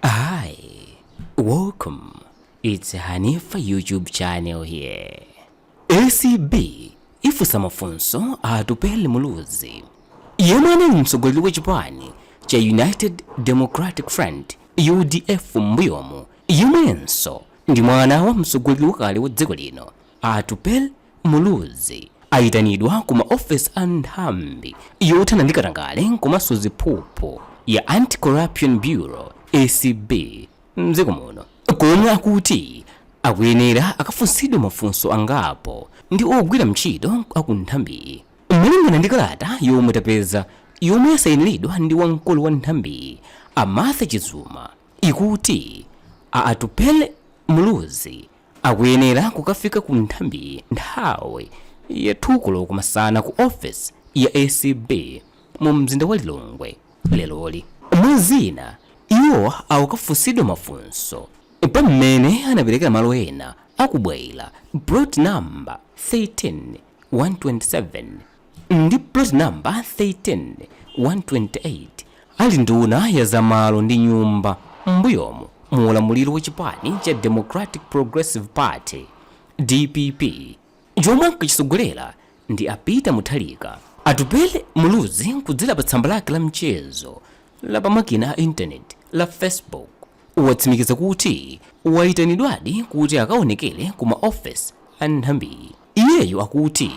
Hi, welcome. It's Hanifa YouTube channel here. ACB ifunsa mafunso a Atupele Muluzi yemwe anali mtsogoleri wa chipani cha United Democratic Front UDF m'mbuyomu yemwenso ndi mwana wa mtsogoleri wakale wa dziko lino Atupele Muluzi ayitanidwa ku ma office a nthambi yothana ndi katangale komanso ziphuphu ya Anti Corruption Bureau, acb, mdziko muno komwe akuti akuyenera akafunsidwe mafunso angapo ndi ogwira mtchito aku nthambiyi. Malingana ndi kalata yomwe tapeza yomwe yasayiniridwa ndi wamkulu wa nthambiyi a Martha Chizuma ikuti a Atupele Muluzi, Akuyenera kukafika ku nthambiyi nthawi ya 2 koloko masana ku ofesi ya acb mu mzinda wa Lilongwe leroli. Mwa zina, iwo akukafunsidwa mafunso pa mmene anaperekera malo ena a ku Bwaila, plot number 13 127, ndi plot number 13128 ali nduna ya za malo ndi nyumba m'mbuyomu mu ulamuliro wa chipani cha democratic progressive party dpp chomwe ankachisogolera ndi a Peter Mutharika atupele muluzi kudzera pa tsamba lake la mchezo la pamakina a intaneti la facebook watsimikiza kuti wayitanidwadi kuti akaonekere ku maofesi a nthambiyi Iyeyo akuti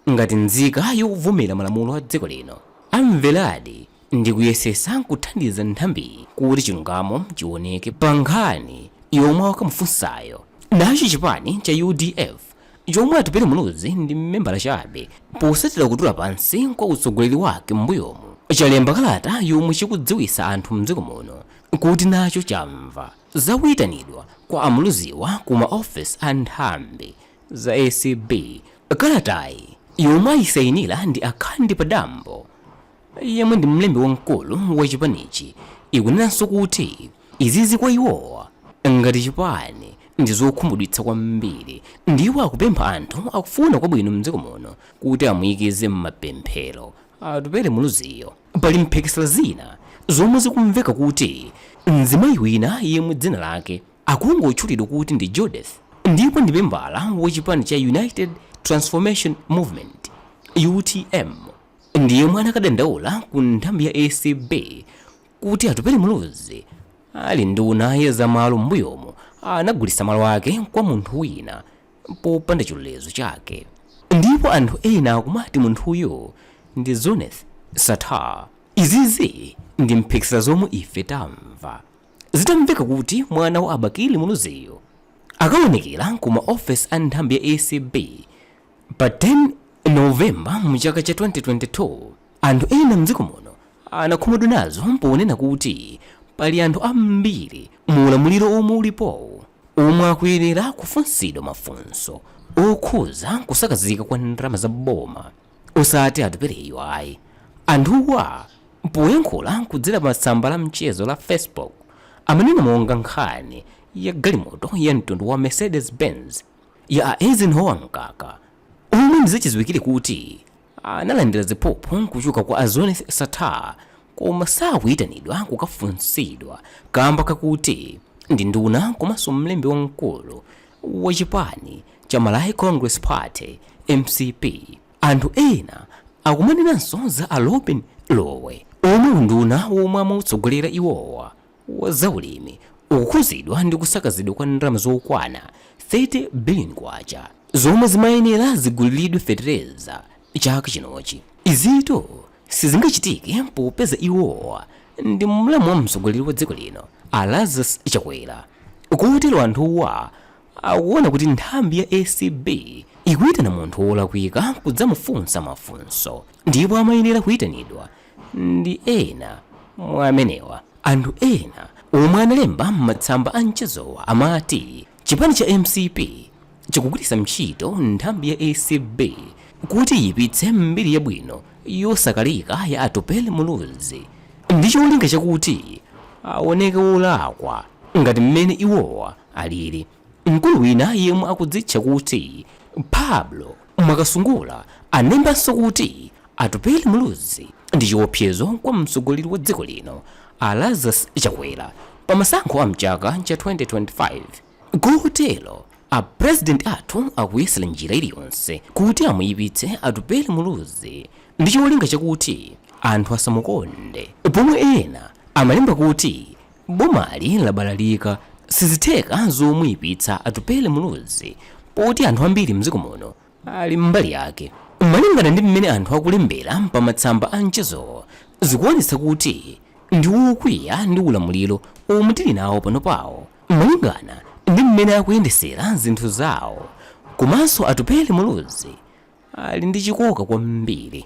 ngati nzika yovomera malamulo a dziko lino, amveradi ndi kuyesesa kuthandiza nthambiyi kuti chilungamo chiwoneke pa nkhani yomwe akukamufunsayo. Nacho chipani cha udf chomwe Atupele Muluzi ndi membala chabe posatira kutula pansi kwa utsogoleri wake m'mbuyomu, chalemba kalata yomwe chikudziwitsa anthu m'dziko muno kuti nacho chamva za kuitanidwa kwa a Muluziwa ku ma ofesi a nthambi za acb. Kalatayi, yomwe ayisayinira ndi a Kandi Padambo, yemwe ndi mlembi wamkulu wa chipanichi, ikunenanso kuti izizi kwa iwowa ngati chipani ndi zokhumudwitsa kwambiri ndipo akupempha anthu akufuna kwabwino m'dziko muno kuti amuikize m'mapemphero. Atupele Muluziyo. Pali mphekesera zina zomwe zikumveka kuti mzimayi wina yemwe dzina lake. akungotchulidwa kuti ndi Judith ndipo ndi membala wa chipani cha United Transformation Movement, utm, ndi yemwe anakadandaula ku nthambi ya acb kuti Atupele Muluzi ali nduna ya za malo m'mbuyomu anagulitsa malo ake kwa munthu wina popanda chilolezo chake. Ndipo anthu ena akumati munthuyo ndi Zuneth Sattar. Izizi ndi mphekesera zomwe ife tamva. Zitamveka kuti mwana wa a Bakili Muluziyu akaonekera ku ma ofesi a nthambi ya acb pa 10 November mu chaka cha 2022, anthu ena mdziko muno anakhumudwa nazo ponena kuti pali anthu ambiri mu ulamuliro omwe ulipowu omwe akuyenera kufunsidwa mafunso okhuza kusakazika kwa ndalama za boma. osati Atupeleyu ayi. Anthuwa poyankhula kudzera pa tsamba la mchezo la Facebook amanena monga nkhani ya galimoto ya mtundu wa Mercedes Benz ya a Eisenhower Mkaka omwe ndizachidziwikire kuti analandira ziphuphu kuchoka kwa a Zuneth Sattar koma sakuyitanidwa kukafunsidwa kamba kakuti ndi nduna komanso mlembi wamkulu wa chipani cha Malawi Congress Party, mcp, anthu ena akumanenanso za a Lobin Lowe omwe unduna womwe amautsogolera iwowa wa zaulimi ukukhuzidwa ndi kusakazidwa kwa ndalama zokwana 30 billion kwacha zomwe zimayenera ziguliridwe fetereza chaka chinochi. Izitu Sizingachitike popeza iwowa ndi mlamu wa mtsogoleri wa dziko lino a Lazarus Chakwera kotero anthuwa akuona kuti nthambi ya acb ikuitana munthu wolakwika kudzamufunsa mafunso ndipo amayenera kuitanidwa ndi ena mwa amenewa. Anthu ena omwe analemba m'matsamba a mchezowa amati Chipani cha mcp chikugwiritsa ntchito nthambi ya acb kuti iyipitse mbiri yabwino yosakalika ya Atupele Muluzi ndi cholinga chakuti awoneke wolakwa ngati mmene iwowa alili. Mkulu wina yemwe akudzitcha kuti Pablo. Mwakasungula anembanso kuti Atupele Muluzi ndi chiopsezo kwa mtsogoleri wa dziko lino a Lazarus Chakwera pa masankho a mchaka cha 2025 kotero a President athu akuyesera njira iliyonse kuti amuyipitse Atupele Muluzi ndi cholinga chakuti anthu asamukonde pomwe ena amalemba kuti Bomali labalalika sizitheka zomuipitsa Atupele Muluzi poti anthu ambiri mdziko muno ali mbali yake. Malingana ndi mmene anthu akulembera pa matsamba a mchezowo zikuonetsa kuti ndi wokwiya ndi ulamuliro omwe tili nawo panopawu malingana ndi mmene akuyendesera zinthu zawo komanso Atupele Muluzi ali ndi chikoka kwambiri.